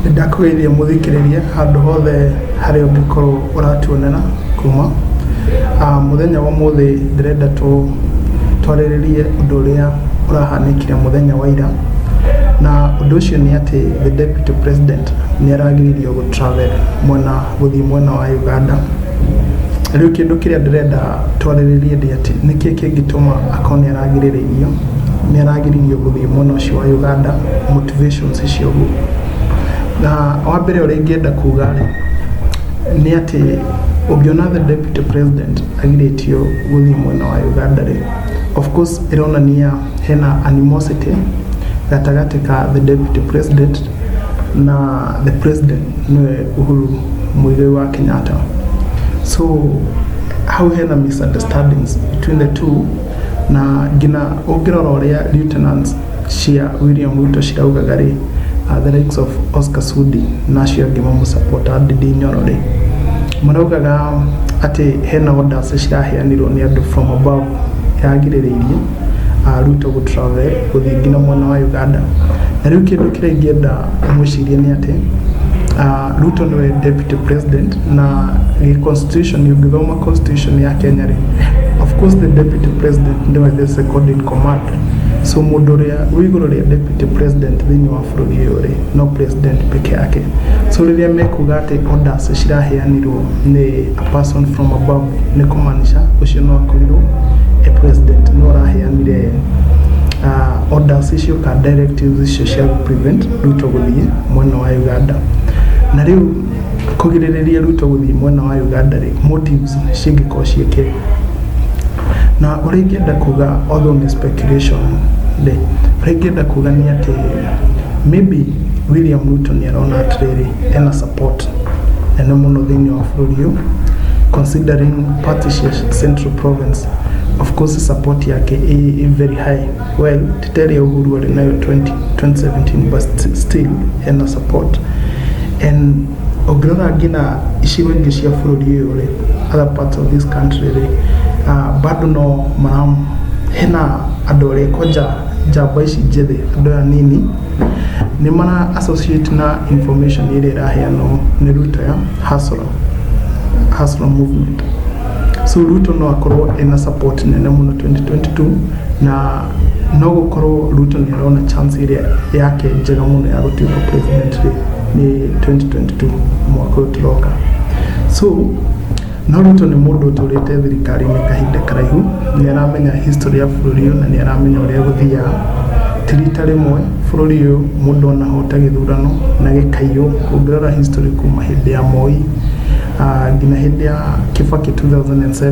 Nĩndakũgeithia mũthikĩrĩria handũ hothe harĩa ũngĩkorwo ũratuonera kuma. Mũthenya wa ũmũthĩ ndĩrenda twarĩrĩrie ũndũ ũrĩa ũrahanĩkire mũthenya wa ira, na ũndũ ũcio nĩ atĩ the deputy president nĩaragiririo gũ travel mwena... gũthiĩ mwena wa Uganda. Rĩu kĩndũ kĩrĩa ndĩrenda twarĩrĩrie ndĩ atĩ nĩkĩ kĩngĩtũma akorwo nĩ aragirĩrĩirio nĩ aragirĩrĩirio gũthiĩ mwena ũcio wa Uganda motivations icio ũguo. Na wa mbere ũrĩa ingĩenda kuga rĩ nĩ atĩ ũngĩona the deputy president agirĩtio gũthiĩ mwena wa Uganda rĩ of course ĩronania hena animosity gatagatĩ ka the deputy president na the president nĩwe Uhuru Muigai wa Kenyatta so hau hena misunderstandings between the two na ngina ũngĩrora ũrĩa lieutenants cia William Ruto ciraugaga rĩ uh, the likes of Oscar Sudi na acio angĩ mamũsapota Ndindi Nyoro rĩ maraugaga atĩ hena orders ciraheanirwo nĩ andũ from above yagirĩrĩirie a Ruto gũ travel gũthiĩ nginya mwena wa Uganda. Na rĩu kĩndũ kĩrĩa ingĩenda mwĩcirie nĩ atĩ, ah, Ruto nĩwe deputy president na gĩ constitution ũngĩthoma constitution ya Kenya rĩ, of course the deputy president nĩwe the second in command. So mũndũ ũrĩa wĩ igũrũ rĩa deputy president thĩinĩ wa bũrũri ũyũ rĩ no president peke yake so rĩrĩa mekuga atĩ orders ciraheanirwo nĩ a person from above nĩ kũmaanisha ũcio no akorirwo e president no araheanire uh, orders icio ka directives icio cia prevent Ruto gũthiĩ mwena wa Uganda na rĩu kũgirĩrĩria Ruto gũthiĩ mwena wa Uganda rĩ, motives cingĩkorwo ciĩ kĩ? Na ũrĩa ingĩenda kuga although nĩ speculation rĩ, ũrĩa ingĩenda kuga nĩ atĩ maybe William Ruto nĩ arona atĩrĩrĩ ena support nene mũno thĩinĩ wa bũrũri ũyũ considering party cia Central Province of course support yake ĩ very high. well titari ya uhuru wali nayo 20, 2017 but st- still hena support and ũngĩrora ngina icigo ingĩ cia bũrũri ũyũ rĩ other parts of this country rĩ uh, bado no mara hena andũ arĩa koja njamba ici njĩthĩ andũ aya nini nĩ mara associate na information ĩrĩa ĩraheanwo nĩ ruto ya hustler, hustler movement so ruto no akorwo ena support nene mũno 2022 na no gũkorwo Ruto nĩ arona chance ĩrĩa yake njega mũno ya gũtuĩka president rĩ nĩ 2022 mwaka ũyũ tũroka so no Ruto nĩ mũndũ ũtũrĩte thirikari-inĩ kahinda karaihu nĩ aramenya history ya bũrũri ũyũ na nĩ aramenya ũrĩa gũthiaga ti rita rĩmwe bũrũri ũyũ mũndũ anahota gĩthurano na gĩkaiyũ ũngĩrora history kuma hĩndĩ ya Moi ah, nginya hĩndĩ ya Kibaki 2007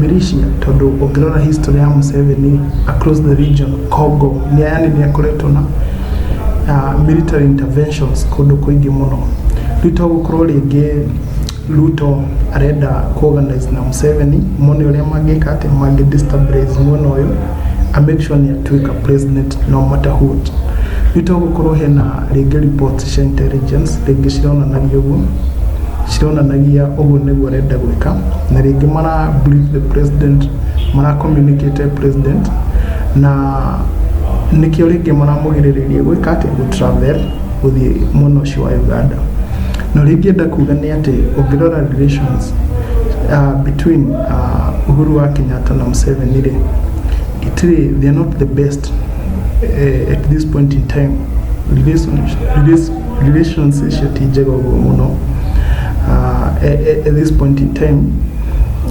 Militia tondũ ũngĩrora history ya Museveni across the region Congo ni yani ni akoretwo na uh, military interventions kũndũ kũingĩ mũno rĩu to gũkorwo rĩngĩ Ruto arenda kũorganize na Museveni mone ũrĩa mangĩka atĩ mangĩ destabilize mwena ũyũ a make sure nĩ atuĩka president no matter what nĩ tũgũkorwo hena rĩngĩ reports cia intelligence rĩngĩ cironanagia ũguo cironanagia ũguo nĩguo arenda gwĩka na rĩngĩ mara brief the president mara communicate president na nĩkĩo rĩngĩ maramũgirĩrĩria gwĩka atĩ gũ travel gũthiĩ mwena ũcio wa Uganda na rĩngĩ enda kuga nĩ atĩ ũngĩrora relations uh, between uh, Uhuru wa Kenyatta na Museveni rĩ itirĩ they are not the best uh, at this point in time relations relations relations icio ti njega ũguo mũno uh, at, at this point in time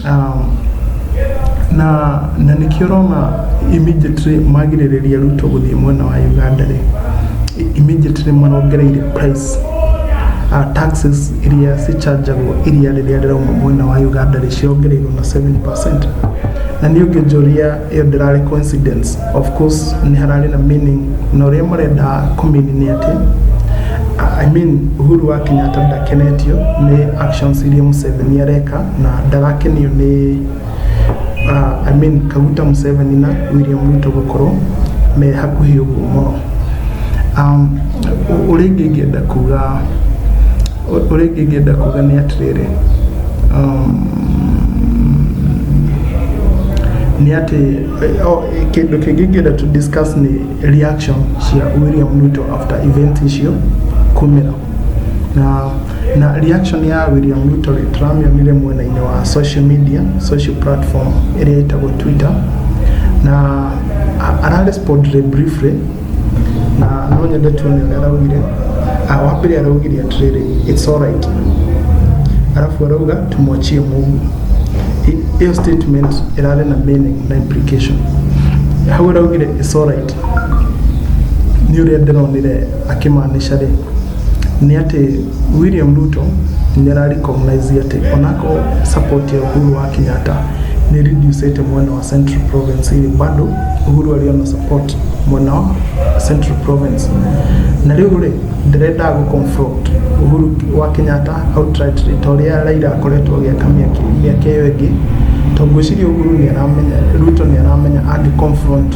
um, na na nĩkĩo ũrona immediately magirĩrĩria ruto gũthiĩ mwena wa uganda rĩ immediately marongereire price uh, taxes iria cicanjagwo iria rĩrĩa rĩrauma mwena wa Uganda rĩciongereirwo na 7% na nĩ ũngĩnjũria ĩyo ndĩrarĩ coincidence of course nĩ hararĩ na meaning na ũrĩa marenda kũmini nĩ atĩ I mean Uhuru wa Kenyatta ndakenetio nĩ actions iria Museveni areka na ndarakenio nĩ uh, I mean Kaguta Museveni na William Ruto gũkorwo me hakuhĩ ũguo mũno um, ũrĩa ingĩ ingĩenda kuga ũrĩa ingĩ ingĩenda kuga nĩ atĩrĩrĩ um, nĩ atĩ eh, oh, kĩndũ kĩngĩ ngĩenda to discuss nĩ reaction cia William Ruto after event icio kumĩra na na reaction ya William Ruto rĩ, tũramĩonire mwena-inĩ wa social media social platform ĩrĩa ĩtagwo Twitter na a- ararespond rĩ briefly na no nyende tuone ũrĩa araugire Ah, wa mbere araugire atĩrĩrĩ it's alright arabu arauga tumwachie Mungu I- ĩyo statement ĩrarĩ na meaning na implication hau araugire it's alright Niĩ ũrĩa ndĩronire akĩmaanisha rĩ, nĩ atĩ William Ruto nĩ ara recognize atĩ onakorwo support ya Uhuru wa Kenyatta nĩ reducĩte mwena wa Central Province rĩ, bado Uhuru arĩ ona support mwena wa Central Province. Na rĩu rĩ, ndĩrenda gũ confront Uhuru wa Kenyatta outrightly ta ũrĩa Raila akoretwo agĩka mĩaka ĩyo ĩngĩ, tondũ ngwĩciria Uhuru nĩ aramenya, Ruto nĩ aramenya angĩ confront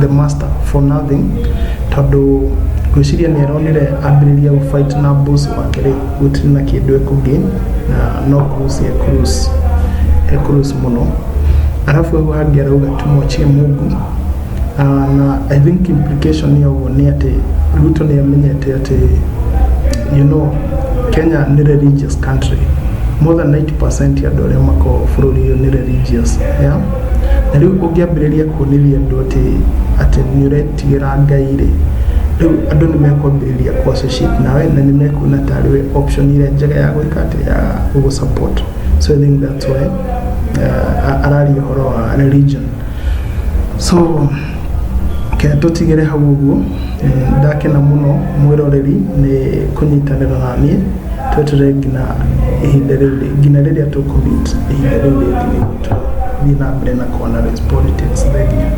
the master for nothing tondũ ngwĩciria nĩ aronire ambĩrĩria gũfight na boss wake rĩ gũtirĩ na kĩndũ ekũgain na no cruise e cruise e cruise mũno arabu hau hangĩ arauga tumwachie mungu Ah, na i think implication ya ũguo nĩ atĩ ruto nĩ amenyete atĩ you know kenya nĩ religious country more than 90 percent ya andũ arĩa makoragwo bũrũri ũyũ nĩ religious yeah? Na rĩu ũngĩambĩrĩria kuonĩria andũ atĩ atĩ nĩ ũretigĩra Ngai rĩ, rĩu andũ nĩ mekwambĩrĩria kũ associate nawe na nĩ mekuona tarĩ we option ĩrĩa njega ya gwĩka atĩ ya gũ support. So I think that's why uh, araria ũhoro wa religion. So kenya tũtigĩre hau ũguo ndakena mũno mwĩroreri nĩ kũnyitanĩra na niĩ twetere nginya ihinda rĩu rĩ- nginya rĩrĩa tũkũmit ihinda rĩu rĩngĩ nĩguo tũthiĩ na mbere na kũanalyze politics. Thengiũ.